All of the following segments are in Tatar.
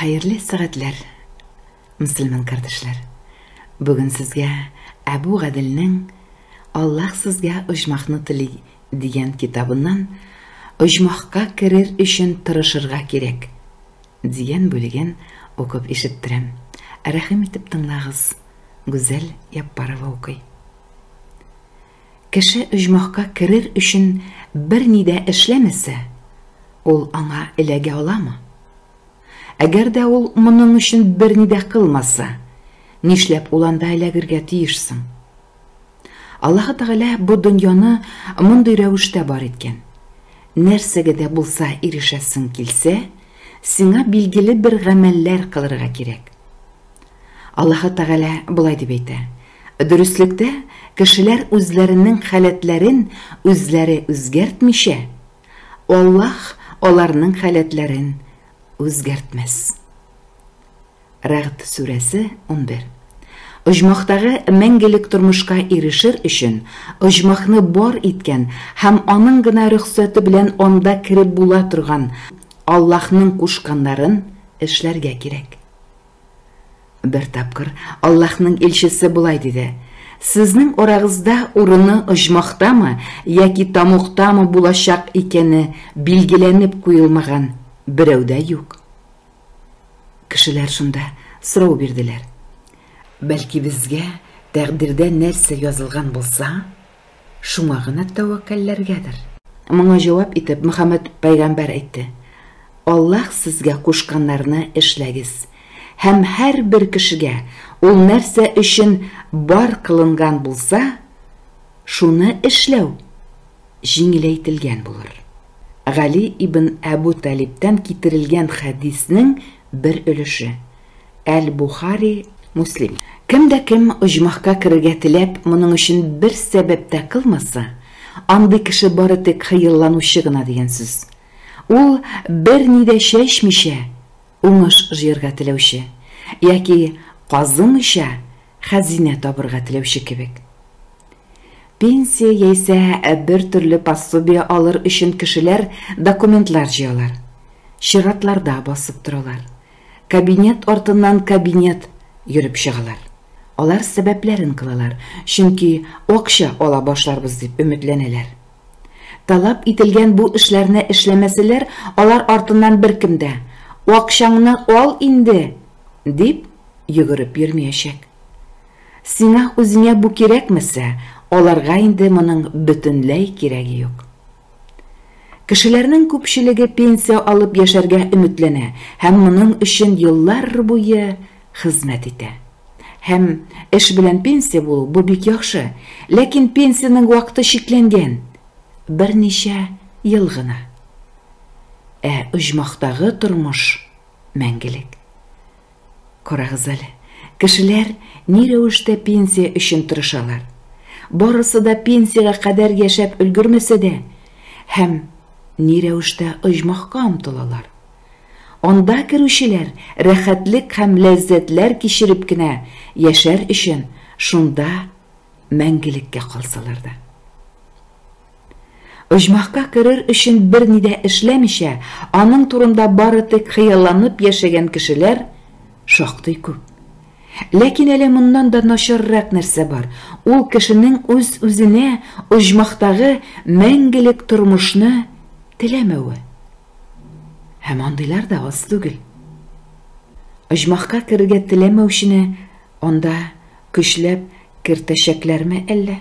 Хәерле сәгатьләр, мөселман кардәшләр! Бүген сезгә Әбу Гаделнең Аллаһ сезгә оҗмахны тели дигән китабыннан Оҗмахка керер өчен тырышырга кирәк дигән бүлеген укып ишеттерәм. Рәхим итеп тыңлагыз, Гүзәл Яппарова укый. Кеше оҗмахка керер өчен берни дә эшләмәсә, ул аңа эләгә аламы? Әгәр дә ул моның өчен берни дә кылмаса, нишләп ул анда эләгергә тиеш соң? Аллаһы Тәгалә бу дөньяны мондый рәвештә бар иткән, нәрсәгә дә булса ирешәсең килсә, сиңа билгеле бер гамәлләр кылырга кирәк. Аллаһы Тәгалә болай дип әйтә, Дөреслектә, кешеләр үзләренең халәтләрен үзләре үзгәртмичә, Аллаһ аларның халәтләрен үзгәртмәс. Рәгъд сүрәсе, унбер. Оҗмахтагы мәңгелек тормышка ирешер өчен, оҗмахны бар иткән һәм аның гына рөхсәте белән анда кереп була торган Аллаһның кушканнарын эшләргә кирәк. Бер тапкыр Аллаһның илчесе болай диде: Сезнең арагызда урыны оҗмахтамы яки тамуктамы булачак икәне билгеләнеп куелмаган берәү дә юк. Кешеләр шунда сорау бирделәр. Бәлки безгә тәкъдирдә нәрсә язылган булса, Шуңа гына тәвәккәлләргәдер. Моңа җавап итеп, Мөхәммәд пәйгамбәр әйтте, Аллаһ сезгә кушканнарны эшләгез, һәм һәрбер кешегә ул нәрсә өчен бар кылынган булса, шуны эшләү җиңеләйтелгән булыр. Гали ибн Әбү Талибтән китерелгән хәдиснең Бер өлеше. Әл-Бухари, Муслим. Кем дә кем оҗмахка керергә теләп, моның өчен бер сәбәп тә кылмаса, андый кеше бары тик хыялланучы гына дигән сүз. Ул, берни дә чәчмичә, уңыш җыярга теләүче, яки казымыйча, хәзинә табырга теләүче кебек. Пенсия яисә бер төрле пособие алыр өчен кешеләр документлар җыялар. Чиратларда басып торалар. Кабинет артыннан кабинет йөреп чыгалар. Алар сәбәпләрен кылалар, чөнки акча ала башларбыз дип өметләнәләр. Таләп ителгән бу эшләрне эшләмәсәләр, алар артыннан беркем дә, Акчаңны ал инде! дип йөгереп йөрмиячәк. Сиңа үзеңә бу кирәкмәсә, аларга инде моның бөтенләй кирәге юк. Кешеләрнең күпчелеге пенсия алып яшәргә өметләнә һәм моның өчен еллар буе хезмәт итә. Һәм эш белән пенсия булу, бу бик яхшы. Ләкин пенсиянең вакыты чикләнгән, берничә ел гына. Ә оҗмахтагы тормыш, мәңгелек. Карагыз әле, кешеләр ни рәвештә пенсия өчен тырышалар. Барысы да пенсиягә кадәр яшәп өлгермәсә дә, һәм ни рәвештә оҗмахка омтылалар. Анда керүчеләр рәхәтлек һәм ләззәтләр кичереп кенә яшәр өчен шунда мәңгелеккә калсалар да. Оҗмахка керер өчен берни дә эшләмичә, аның турында бары тик хыялланып яшәгән кешеләр шактый күп. Ләкин әле моннан да начаррак нәрсә бар, ул кешенең үз-үзенә оҗмахтагы мәңгелек тормышны теләмәве. Һәм андыйлар да аз түгел. Оҗмахка керергә теләмәүчене анда көчләп кертәчәкләрме әллә?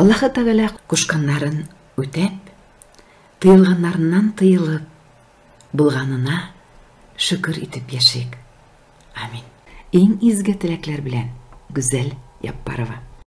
Аллаһы Тәгалә кушканнарын үтәп, тыелганнарыннан тыелып, булганына шөкер итеп яшик. Амин. Иң изге теләкләр белән, Гүзәл Яппарова.